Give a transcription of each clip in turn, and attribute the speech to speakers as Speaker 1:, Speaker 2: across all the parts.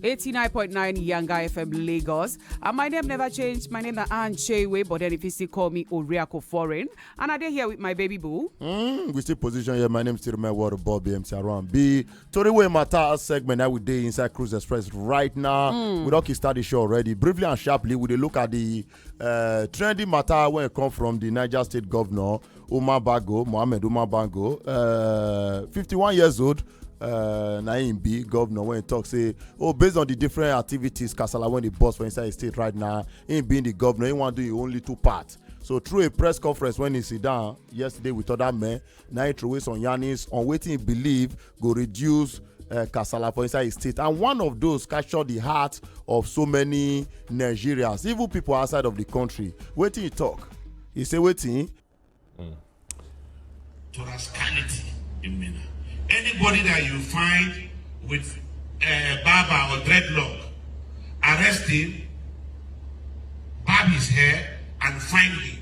Speaker 1: 89.9 Yanga FM Lagos. And my name never changed. My name is Anne Chewe, but then if you still call me Oriako Foreign. And I dey here with my baby boo. Mm, we still position
Speaker 2: here. My name still my word Bobby MC around. B Toriwe Mata segment that we day inside Cruise Express right now. Mm. We don't start the show already. Briefly and sharply, we dey look at the Uh, trending matter when it come from the Niger State Governor Umar Bago, Mohammed Umar Bago, uh, 51 years old, uh, na him be governor when he talk say oh based on the different activities kasala when the boss for inside the state right now him being the governor he wan do him own little part so through a press conference when he sit down yesterday with other men na him throway some yarnings on wetin he believe go reduce uh, kasala for inside his state and one of those capture the heart of so many nigerians even people outside of the country wetin he talk he say wetin.
Speaker 3: Mm. to rascality in mina anybody that you find with uh, barber or dreadlock arrest him barb his hair and find him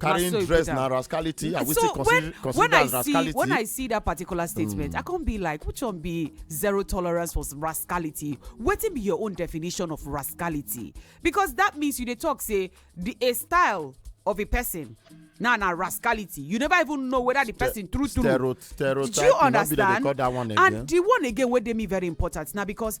Speaker 1: carrying so
Speaker 2: dress na rascality are we so still consider, when, when
Speaker 1: I rascality?
Speaker 2: see when I see that particular
Speaker 1: statement, mm. I can't be like, which one be zero tolerance for rascality? What be your own definition of rascality? Because that means you they talk say the a style of a person now nah, nah, rascality you never even know whether the person Ste true true stereotype do you
Speaker 2: understand
Speaker 1: that one again. and
Speaker 2: the one again wey
Speaker 1: dey me very important na because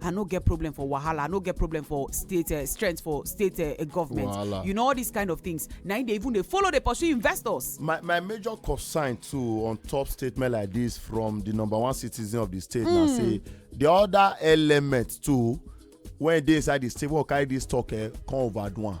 Speaker 1: i no get problem for wahala i no get problem for state uh, strength for state uh, government wahala. you know all these kind of things na im dey even dey follow dey pursue investors. my my major
Speaker 2: concern too on top statement like this from the number one citizen of the state mm. na hmm. say the other element too when e dey inside the state wey carry this talk eh, come overdo am.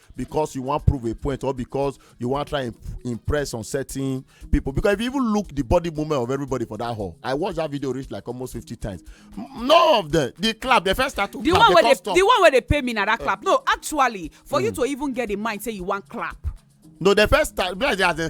Speaker 2: because you want prove a point or because you want try and impress on certain people because if you even look the body movement of everybody for that hall i watch that video reach like almost fifty times none of them the clap they first start to the clap one they come stop the one
Speaker 1: where they
Speaker 2: pay me
Speaker 1: na that uh, clap no actually for mm. you to even get in mind say you want clap no the
Speaker 2: first time as they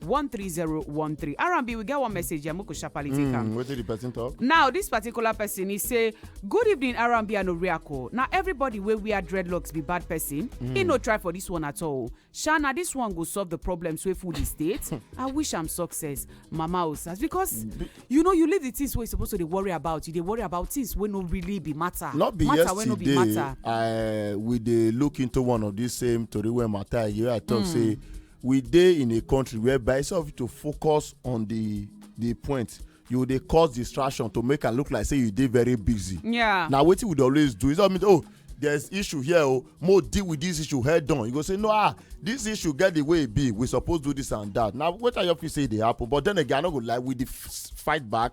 Speaker 1: 13013 r&b we get one message here make we sharply take am Mm, wetin the
Speaker 2: person talk? now dis particular
Speaker 1: person e say good evening r&b and oriako na everybody wey wear dreadlocks be bad person e no try for dis one at all sha na dis one go solve the problems wey full di state i wish am success mama osas because you know you leave the things wey you suppose to dey worry about you dey worry about things wey no really be matter Not be matter wey no be yesterday matter I we dey look
Speaker 2: into one of these same tori wey matter wey I talk say we dey in a country whereby instead of you to focus on the the point you dey cause distraction to make am look like say you dey very busy. Yeah. na wetin we dey
Speaker 1: always do
Speaker 2: instead of me to oh there's issue here o oh, mo deal with this issue head on you go say no ah this issue get the way e be we suppose do this and that na wetin i just feel say e dey happen but then again i no go lie we dey fight back